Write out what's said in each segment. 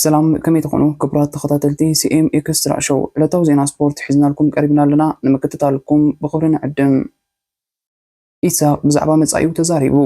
ሰላም ከመይ ትኾኑ ክቡራት ተኸታተልቲ ሲኤም ኤክስትራ ሾው ዕለታዊ ዜና ስፖርት ሒዝናልኩም ቀሪብና ኣለና ንምክትታልኩም ብኽብሪ ንዕድም ኢሳቕ ብዛዕባ መጻኢኡ ተዛሪቡ።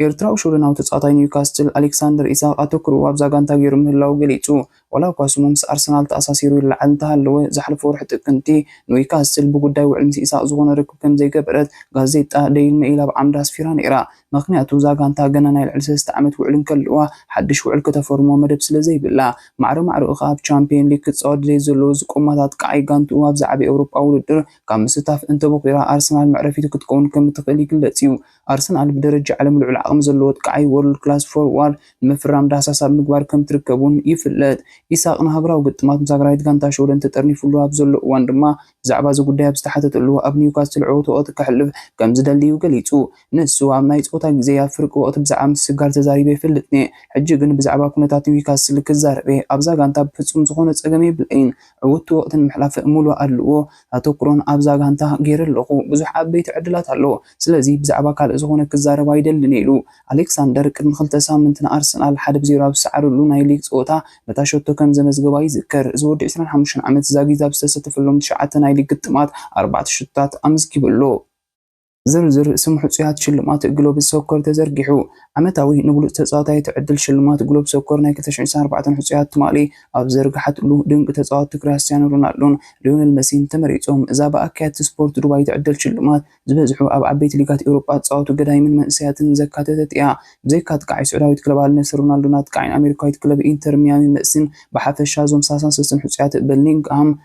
ኤርትራዊ ሽወደናዊ ተጻዋታይ ኒውካስትል ኣሌክሳንደር ኢሳቕ ኣተኩርኡ ኣብዛ ጋንታ ገይሩ ምህላዉ ገሊጹ። ዋላ'ኳ ስሙ ምስ ኣርሰናል ተኣሳሲሩ ይለዓል እንተሃለወ፣ ዝሓለፈ ወርሒ ጥቅምቲ ኑዊካስትል ብጉዳይ ውዕል ምስ ኢሳቕ ዝኾነ ርክብ ከምዘይገበረት ጋዜጣ ደይል መኢል ኣብ ዓምዳ ኣስፊራ ነይራ። ምኽንያቱ እዛ ጋንታ ገና ናይ ልዕሊ ሰለስተ ዓመት ውዕል እንከለዋ ሓድሽ ውዕል ከተፈርሞ መደብ ስለዘይብላ። ማዕረ ማዕረኡ ከኣ ኣብ ቻምፕየን ሊግ ክጻወት ድሌት ዘለዎ እዚ ቆማት ኣጥቃዓይ ጋንትኡ ኣብዛ ዓቢ ኤውሮጳዊ ውድድር ካብ ምስታፍ እንተቦኺራ ኣርሰናል መዕረፊቱ ክትከውን ከምትኽእል ይግለጽ እዩ። ኣርሰናል ብደረጃ ዓለም ልዑል ዓቕሚ ዘለዎ ኣጥቃዓይ፣ World Class Forward፣ ንምፍራም ዳህሳስ ኣብ ምግባር ከምትርከብ እውን ይፍለጥ። ኢሳቕ ንሃገራዊ ግጥማት ምስ ሃገራዊት ጋንታ ሽወደን ተጠርኒፉሉ ኣብ ዘሎ እዋን ድማ፣ ብዛዕባ እዚ ጉዳይ ኣብ ዝተሓተተሉ ኣብ ኒውካስትል ዕዉት ወቕቲ ከሕልፍ ከምዝደሊ እዩ ገሊጹ። ንሱ ኣብ ናይ ጸወታ ግዜይ ኣብ ፍርቂ ወቕቲ ብዛዕባ ምስግጋር ተዛሪበ ኣይፈልጥን'የ፣ ሕጂ ግን ብዛዕባ ኩነታት ኒውካስትል ክዛረብ'የ፣ ኣብዛ ጋንታ ብፍጹም ዝኾነ ጸገም የብለይን፣ ዕውትቲ ወቕቲ ንምሕላፍ ሙሉእ ኣድልዎ ኣተኩሮን ኣብዛ ጋንታ ገይረ ኣለኹ። ብዙሕ ዓበይቲ ዕድላት ኣሎ። ስለዚ ብዛዕባ ካልእ ዝኾነ ክዛረብ ኣይደልን ኢሉ። ኣሌክሳንደር ቅድሚ ክልተ ሳምንቲ ንኣርሰናል ሓደ ብ ዜሮ ኣብ ዝሰዓረሉ ናይ ሊግ ጸወታ ነታ ሸቶ ከም ዘመዝገባ ይዝከር። እዚ ወዲ ዕስራን ሓሙሽተን ዓመት ዛጊት ኣብ ዝተሰተፈሎም ትሽዓተ ናይ ሊግ ግጥማት ኣርባዕተ ሸቶታት ኣመዝጊቡ ኣሎ። ዝርዝር ስም ሕጹያት ሽልማት ግሎብ ሶከር ተዘርጊሑ። ዓመታዊ ንብሉጽ ተጻዋታይ እትዕድል ሽልማት ግሎብ ሶከር ናይ ክልተ ሽሕን ዒስራን ኣርባዕተን ሕጹያት ትማሊ ኣብ ዘርግሓትሉ፣ ድንቂ ተጻወትቲ ክሪያስቲያኖ ሮናልዶን ሊዮነል መሲን ተመሪጾም። እዛ ብኣካየድቲ ስፖርት ዱባይ እትዕደል ሽልማት፣ ዝበዝሑ ኣብ ዓበይቲ ሊጋት ኤውሮጳ ዝጻወቱ ገዳይምን መንእሰያትን ዘካተተት እያ። ብዘይካ ኣጥቃዓይ ስዑዳዊት ክለብ ኣል ነስር ሮናልዶን ኣጥቃዓይን ኣሜሪካዊት ክለብ ኢንተር ሚያሚ መሲን፣ ብሓፈሻ እዞም ሳላሳን ሰለስተን ሕጹያት በሊንግሃም፣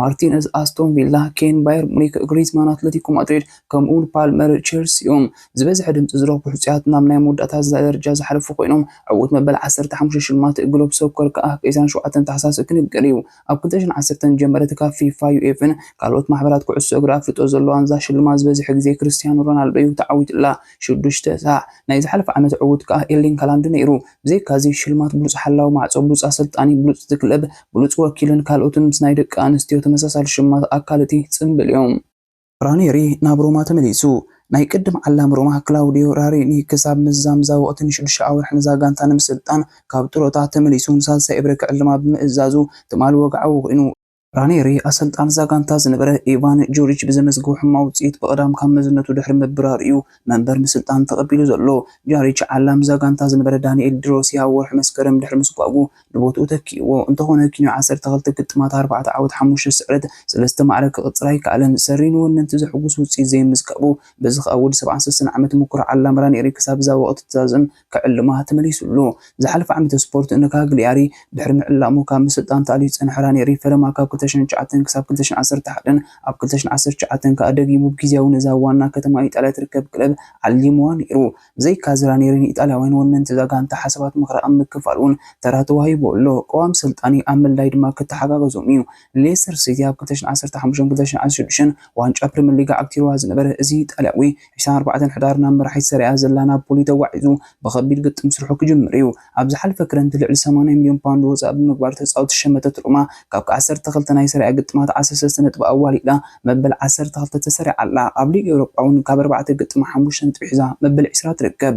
ማርቲነዝ፣ ኣስቶን ቪላ፣ ኬን፣ ባየር ሙኒክ፣ ግሪዝማን፣ ኣትለቲኮ ማድሪድ፣ ከምኡ'ውን ፓልመር፣ ቼልሲ'ዮም። ዝበዝሐ ድምጺ ዝረኽቡ ሕጹያት ናብ ናይ መወዳእታ ደረጃ ዝሓለፉ ኰይኖም፣ ዕዉት መበል ዓሰርተ ሓሙሽተ ሽልማት ግሎብ ሶከር ከኣ ቀዳም ሸውዓተ ታሕሳስ ክንገር'ዩ። ኣብ ክልተ ሽሕን ዓሰርተን ዝጀመረት ካብ ፊፋ፣ ዩኤፍን ካልኦት ማሕበራት ኩዕሶ እግሪ ኣፍልጦ ዘለዋን እዛ ሽልማት ዝበዝሐ ግዜ ክርስትያኖ ሮናልዶ'ዩ ተዓዊቱላ፣ ሽዱሽተ ሳዕ። ናይ ዝሓለፈ ዓመት ዕዉት ከኣ ኤርሊንግ ሃላንድ ነይሩ። ብዘይካዚ ሽልማት ብሉጽ ሓላዊ ማዕጾ፣ ብሉጽ ኣሰልጣኒ፣ ብሉጽ እቲ ክለብ፣ ብሉጽ ወኪልን ካልኦትን ምስ ናይ ደቂ ኣንስትዮ ተመሳሳሊ ሽማት ኣካል እቲ ጽምብል እዮም። ራኔሪ ናብ ሮማ ተመሊሱ። ናይ ቅድም ዓላሚ ሮማ ክላውድዮ ራሬኒ ክሳብ ምዝዛም እዛ ወቕቲ ንሽዱሽተ ኣዋርሕ ነዛ ጋንታ ንምስልጣን ካብ ጥሮታ ተመሊሱ ንሳልሳይ እብረ ክዕልማ ብምእዛዙ ትማሊ ወግዓዊ ኮይኑ። ራኔሪ ኣሰልጣኒ እዛ ጋንታ ዝነበረ ኢቫን ጁሪች ብዘመዝግቦ ሕማቕ ውጽኢት ብቐዳም ካብ መዝነቱ ድሕሪ ምብራሩ'ዩ መንበር ምስልጣን ተቐቢሉ ዘሎ። ጃሪች ዓላም እዛ ጋንታ ዝነበረ ዳኒኤል ዲሮሲ ኣብ ወርሒ መስከረም ድሕሪ ምስጓጉ ንቦትኡ ተኪኡዎ። እንተኾነ ኪንዮ ዓሰርተ ክልተ ግጥማት ኣርባዕተ ዓወት ሓሙሽተ ስዕረት ሰለስተ ማዕረ ክቕጽር ኣይከኣለን። ሰሪ ንወነንቲ ዘሕጉስ ውጽኢት ዘይምዝጋቡ በዚ ከኣ ወዲ ሰብዓን ሰሰን ዓመት ምኩር ዓላም ራኔሪ ክሳብ እዛ ወቕቲ ትዛዝም ክዕልማ ተመሊሱሉ። ዝሓለፈ ዓመተ ስፖርት ንካግሊያሪ ድሕሪ ምዕላሙ ካብ ምስልጣን ተኣልዩ ዝጸንሐ ራኔሪ ፈለማ ካብ ክልተ ሽሕን ትሽዓተን ክሳብ ክልተ ሽሕን ዓሰርተ ሓደን ኣብ ክልተ ሽሕን ዓሰርተ ትሽዓተን ከኣ ደጊሙ ብጊዝያዊ ነዛ ኣብ ዋና ከተማ ኢጣልያ ትርከብ ክለብ ዓሊምዋ ነይሩ። ብዘይካዚ ራኔሪ ንኢጣልያውያን ወነንቲ እዛ ጋንታ ሓሳባት ምኽሪ ኣብ ምክፋል'ውን ተራ ተዋሂብዎ ኣሎ። ቅዋም ሰልጣኒ ኣብ ምልላይ ድማ ክተሓጋገዞም'ዩ። ሌስተር ሲቲ ኣብ ክልተ ሽሕን ዓሰርተ ሓሙሽተን ክልተ ሽሕን ዓሰርተ ሽዱሽተን ዋንጫ ፕሪመር ሊግ ዓቲሩዋ ዝነበረ እዚ ጣልያዊ፣ ዕስራን ኣርባዕተን ሕዳር ናብ መራሒት ሰሪኣ ዘላ ናፖሊ ተጓዒዙ ብኸቢድ ግጥም ስርሑ ክጅምር እዩ። ኣብ ዝሓለፈ ክረምቲ ልዕሊ ሰማንያ ሚልዮን ፓውንድ ወፃኢ ብምግባር ተፃወቲ ዝሸመተት ሮማ ካብ ዓሰርተ ክልተ ናይ ሰሪኣ ግጥማት ዓሰርተ ሰለስተ ነጥቢ ኣዋሊዳ መበል ዓሰርተ ክልተ ተሰሪዓ ኣላ። ኣብ ሊግ ኤውሮጳ እውን ካብ ኣርባዕተ ግጥም ሓሙሽተ ነጥቢ ሒዛ መበል ዕስራ ትርከብ።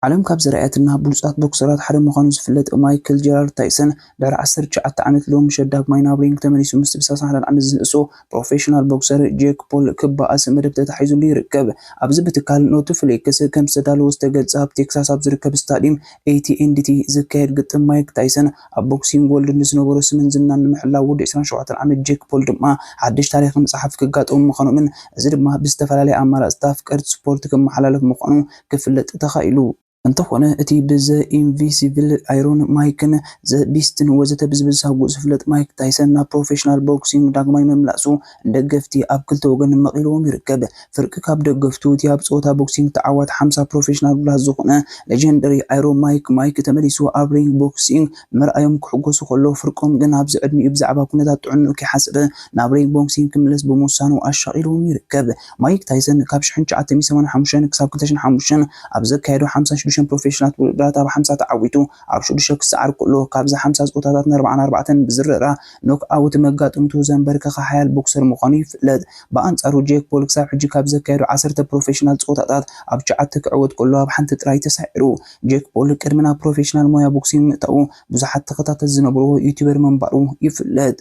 ዓለም ካብ ዘርኣየትና ብሉጻት ቦክሰራት ሓደ ምዃኑ ዝፍለጥ ማይክል ጀራርድ ታይሰን፣ ድሕሪ ዓሰርተ ትሽዓተ ዓመት ሎሚ ምሸት ዳግማይ ናብ ሪንግ ተመሊሱ ምስቲ ብሳልሳን ሓደን ዓመት ዝንእሶ ፕሮፌሽናል ቦክሰር ጄክ ፖል ክበኣስ መደብ ተታሒዙሉ ይርከብ። ኣብዚ ብትካል ኖትፍሊክስ ከም ዝተዳለወ ዝተገልጸ ኣብ ቴክሳስ ኣብ ዝርከብ ስታድዩም AT&T ዝካየድ ግጥም ማይክ ታይሰን ኣብ ቦክሲንግ ወርልድ ንዝነበሮ ስምን ዝናን ንምሕላው ወዲ ዕስራን ሸውዓተን ዓመት ጄክ ፖል ድማ ሓድሽ ታሪኽ ምጽሓፍ ክጋጠሙ ምዃኖምን እዚ ድማ ብዝተፈላለየ ኣማራጽታት ፍቀርቲ ስፖርት ክመሓላለፍ ምዃኑ ክፍለጥ ተኻኢሉ። እንተኾነ እቲ ብ ዘ ኢንቪሲብል ኣይሮን ማይክን ዘ ቢስትን ወዘተ ብዝብሳጉ ዝፍለጥ ማይክ ታይሰን ናብ ፕሮፌሽናል ቦክሲንግ ዳግማይ ምምላሱ ንደገፍቲ ኣብ ክልተ ወገን መቒልዎም ይርከብ። ፍርቂ ካብ ደገፍቱ እቲ ኣብ ፀወታ ቦክሲንግ ተዓዋቲ ሓምሳ ፕሮፌሽናል ብላስ ዝኾነ ለጀንደሪ ኣይሮ ማይክ ማይክ ተመሊሱ ኣብ ሪንግ ቦክሲንግ ምርኣዮም ክሕጎሱ ከሎ ፍርቆም ግን ኣብዚ ዕድሚኡ ብዛዕባ ኩነታት ጥዕንኡ ከይሓሰበ ናብ ሪንግ ቦክሲንግ ክምለስ ብምውሳኑ ኣሻቒልዎም ይርከብ። ማይክ ታይሰን ካብ ሽሕን ትሽዓተ ሚእቲ ሰማንያን ሓሙሽተን ክሳብ ክልተ ሽሕን ሓሙሽተን ኣብ ዘካየዶ ሓምሳን ሽዱሽተን ፕሮፌሽናላት ውድድራት ኣብ ሓምሳ ተዓዊቱ ኣብ ሽዱሽተ ክሰዓር ከሎ ካብዚ ሓምሳ ጾታታት ንኣርብዓን ኣርባዕተን ብዝርራ ኖክኣውት መጋጥምቱ ዘንበርከኸ ሓያል ቦክሰር ምዃኑ ይፍለጥ። ብኣንጻሩ ጄክ ፖል ክሳብ ሕጂ ካብ ዘካየዶ ዓሰርተ ፕሮፌሽናል ጾታታት ኣብ ትሽዓተ ክዕወት ከሎ ኣብ ሓንቲ ጥራይ ተሳዒሩ። ጄክ ፖል ቅድሚ ናብ ፕሮፌሽናል ሞያ ቦክሲንግ ምእታዉ ብዙሓት ተኸታተልቲ ዝነበርዎ ዩቱበር ምንባሩ ይፍለጥ።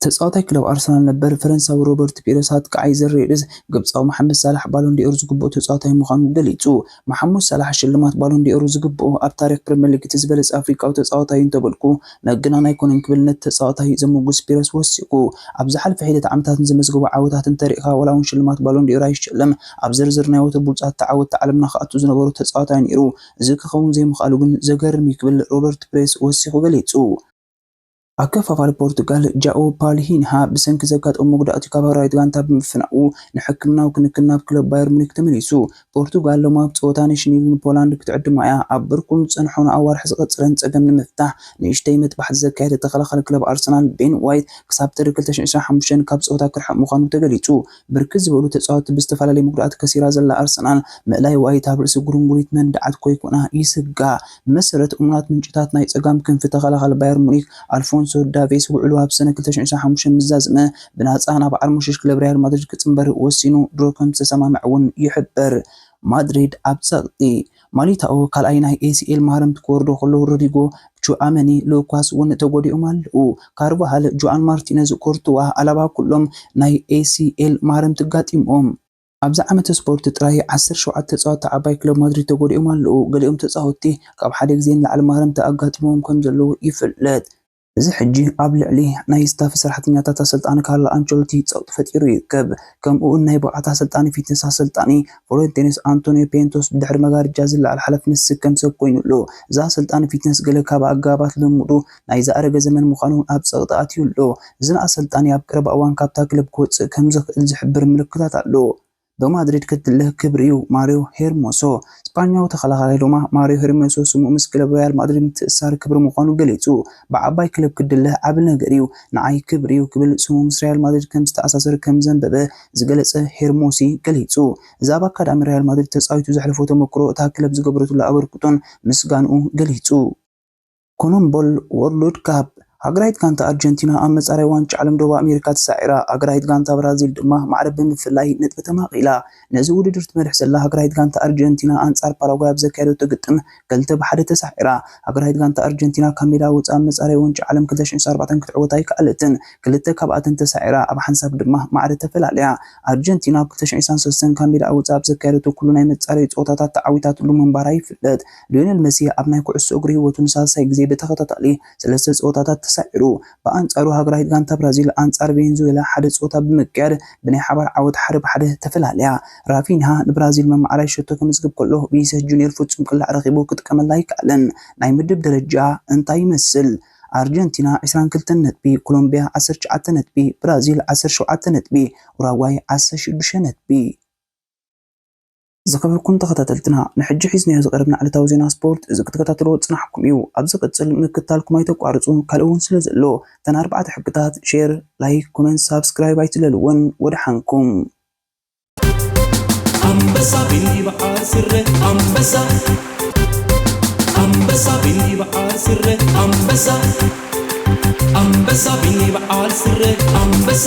ተጻዋታይ ክለብ ኣርሰናል ነበር ፈረንሳዊ ሮበርት ፒረስ ኣጥቃዓይ ዘር ሬድስ ግብጻዊ መሓመድ ሳላሕ ባሎንዲ'ኦር ዝግብኦ ተጻዋታይ ምዃኑ ገሊጹ። መሓሙድ ሳላሕ ሽልማት ባሎንዲ'ኦር ዝግብኦ ኣብ ታሪኽ ፕሪመር ሊግ እቲ ዝበለጸ ኣፍሪቃዊ ተጻዋታይ'ዩ እንተበልኩ መገናን ኣይኮነን ክብል ነቲ ተጻዋታይ ዘሞጉስ ፒረስ ወሲኹ። ኣብ ዝሓልፈ ሒደት ዓመታት ንዘመዝገቦ ዓወታት እንተሪእኻ ዋላ'ውን ሽልማት ባሎንዲ'ኦር ኣይሸለም ኣብ ዝርዝር ናይ ወትሩ ብሉጻት ተዓወትቲ ዓለምና ክኣቱ ዝነበሮ ተጻዋታይ ነይሩ። እዚ ክኸውን ዘይምኽኣሉ ግን ዘገርም'ዩ ክብል ሮበርት ፒረስ ወሲኹ ገሊጹ። ኣከፋፋሊ ፖርቱጋል ጃኦ ፓልሂንሃ ብሰንኪ ዘጋጠሞ መጉዳእቲ ካብ ሃገራዊት ጋንታ ብምፍናዉ ንሕክምናዊ ክንክን ናብ ክለብ ባየር ሙኒክ ተመሊሱ። ፖርቱጋል ሎሚ ኣብ ጸወታ ኔሽንሊግ ንፖላንድ ክትዕድማ እያ። ኣብ ብርኩን ዝጸንሖ ንኣዋርሕ ዝቐጸለን ጸገም ንምፍታሕ ንእሽተይ መጥባሕቲ ዘካየደ ተኸላኻሊ ክለብ ኣርሰናል ቤን ዋይት ክሳብ ጥሪ ክልተ ሽሕን ዕስራን ሓሙሽተን ካብ ጸወታ ክርሕቕ ምዃኑ ተገሊጹ። ብርክት ዝበሉ ተፃወትቲ ብዝተፈላለየ ምጉዳኣት ከሲራ ዘላ ኣርሰናል፣ ምእላይ ዋይት ኣብ ርእሲ ጉርንጉሪት መንድዓት ኮይኩና ይስጋእ። ብመሰረት እሙናት ምንጭታት ናይ ፀጋም ክንፊ ተኸላኻሊ ባየር ሙኒክ ኣልፎንሶ ዳቬስ ውዕሉ ኣብ ሰነ ክልተ ሽሕን ዕስራን ሓሙሽተን ምስ ዛዘመ ብናፃ ናብ ዓርሞሸሽ ክለብ ሪያል ማድሪድ ክፅምበር ወሲኑ ድሮ ከምዝተሰማምዐ እውን ይሕበር። ማድሪድ ኣብ ፀቕጢ ማሊታኦ ካልኣይ ናይ ኤሲኤል ማህረምቲ ክወርዶ ከሎ ሮድሪጎ፣ ቹኣመኒ፣ ሉካስ ውን ተጎዲኦም ኣለው። ካርቫሃል፣ ጁኣን ማርቲነዝ፣ ኩርቱዋ፣ ኣላባ ኩሎም ናይ ኤሲኤል ማህረምቲ ኣጋጢምዎም። ኣብዚ ዓመተ ስፖርት ጥራይ ዓሰርተ ሸውዓተ ተጻወትቲ ዓባይ ክለብ ማድሪድ ተጎዲኦም ኣለው። ገሊኦም ተጻወትቲ ካብ ሓደ ግዜ ንላዕሊ ማህረምቲ ኣጋጢምዎም ከምዘለው ይፍለጥ። እዚ ሕጂ ኣብ ልዕሊ ናይ ስታፍ ሰራሕተኛታት ኣሰልጣኒ ካርሎ ኣንቸሎቲ ጸቕጢ ፈጢሩ ይርከብ። ከምኡ'ውን ናይ ብቕዓት ኣሰልጣኒ ፊትነስ ኣሰልጣኒ ፍሎረንቴንስ ኣንቶንዮ ፔንቶስ ብድሕሪ መጋርጃ ዝለዓል ሓላፍነት ዝስከም ሰብ ኮይኑ ኣሎ። እዚ ኣሰልጣኒ ፊትነስ ገለ ካብ ኣገባባት ልምምዱ ናይ ዝኣረገ ዘመን ምዃኑ እውን ኣብ ጸቕጢ ኣትዩ ኣሎ። እዚ ንኣሰልጣኒ ኣብ ቀረባ እዋን ካብታ ክለብ ክወጽእ ከምዝኽእል ዝሕብር ምልክታት ኣሎ። ዶ ማድሪድ ክትልህ ክብሪ'ዩ ማርዮ ሄርሞሶ። ስጳኛዊ ተኸላኻላይ ዶማ ማርዮ ሄርሞሶ ስሙ ምስ ክለብ ሪያል ማድሪድ ምትእስሳር ክብሪ ምዃኑ ገሊጹ። ብዓባይ ክለብ ክትድለህ ዓቢ ነገር'ዩ፣ ንዓይ ክብሪ'ዩ ክብል ስሙ ምስ ሪያል ማድሪድ ከም ዝተኣሳሰር ከም ዘንበበ ዝገለጸ ሄርሞሲ ገሊጹ። እዚ ኣብ ኣካዳሚ ሪያል ማድሪድ ተጻዊቱ ዘሕለፎ ተመክሮ እታ ክለብ ዝገበረትሉ ኣበርክቶን ምስጋንኡ ገሊጹ። ኮነምቦል ዎርልድ ካፕ፣ ሃገራዊት ጋንታ ኣርጀንቲና ኣብ መጻረይ ዋንጫ ዓለም ደቡብ ኣሜሪካ ተሳዒራ፣ ሃገራዊት ጋንታ ብራዚል ድማ ማዕረ ብምፍላይ ነጥቢ ተማቒላ። ነዚ ውድድር ትመርሕ ዘላ ሃገራዊት ጋንታ ኣርጀንቲና ኣንጻር ፓራጓይ ኣብ ዘካየደቶ ግጥም ክልተ ብ ሓደ ተሳዒራ። ሃገራዊት ጋንታ ኣርጀንቲና ካብ ሜዳ ወጻኢ ኣብ መጻረይ ዋንጫ ዓለም ክልተ ሽሕን ሸሞንተን ኣርባዕተን ክትዕወት ኣይከኣለትን፣ ክልተ ካብኣተን ተሳዒራ፣ ኣብ ሓንሳብ ድማ ማዕረ ተፈላልያ። ኣርጀንቲና ኣብ ክልተ ሽሕን ዒስራን ሰለስተን ካብ ሜዳኣ ወጻኢ ኣብ ዘካየደቶ ኩሉ ናይ መጻረዪ ጸወታታት ተዓዊታትሉ ምንባራ ይፍለጥ። ሊዮነል መሲ ኣብ ናይ ኩዕሶ እግሪ ህይወቱ ንሳልሳይ ግዜ ብተኸታታሊ ሰለስተ ጸወታታት ተሳዒሩ። ብኣንጻሩ ሃገራዊት ጋንታ ብራዚል ኣንጻር ቬንዙዌላ ሓደ ጸወታ ብምክያድ ብናይ ሓባር ዓወት ሓደ ብሓደ ተፈላልያ። ራፊንሃ ንብራዚል መማዕራይ ሸቶ ከምዝግብ ከሎ ቪኒሰስ ጁንየር ፍጹም ቅላዕ ረኺቡ ክጥቀመላ ኣይከኣለን። ናይ ምድብ ደረጃ እንታይ ይመስል? ኣርጀንቲና ዕስራን ክልተን ነጥቢ፣ ኮሎምብያ ዓሰርተ ትሽዓተ ነጥቢ፣ ብራዚል ዓሰርተ ሸውዓተ ነጥቢ፣ ኡራጓይ ዓሰርተ ሽዱሽተ ነጥቢ። ዝኸበርኩም ተኸታተልትና ንሕጂ ሒዝናዮ ዝቐረብና ዕለታዊ ዜና ስፖርት እዚ ክትከታተልዎ ዝጸናሕኩም እዩ ኣብ ዝቕጽል ምክታልኩም ኣይተቋርጹ ካልእ ውን ስለ ዘሎ እተን ኣርባዕተ ሕግታት ሼር ላይክ ኮመንት ሳብስክራይብ ኣይትለልወን ወደሓንኩም። ኣንበሳ ብይብዓል ስረ ኣንበሳ ኣንበሳ ብይብዓል ስረ ኣንበሳ ኣንበሳ ብይብዓል ስረ ኣንበሳ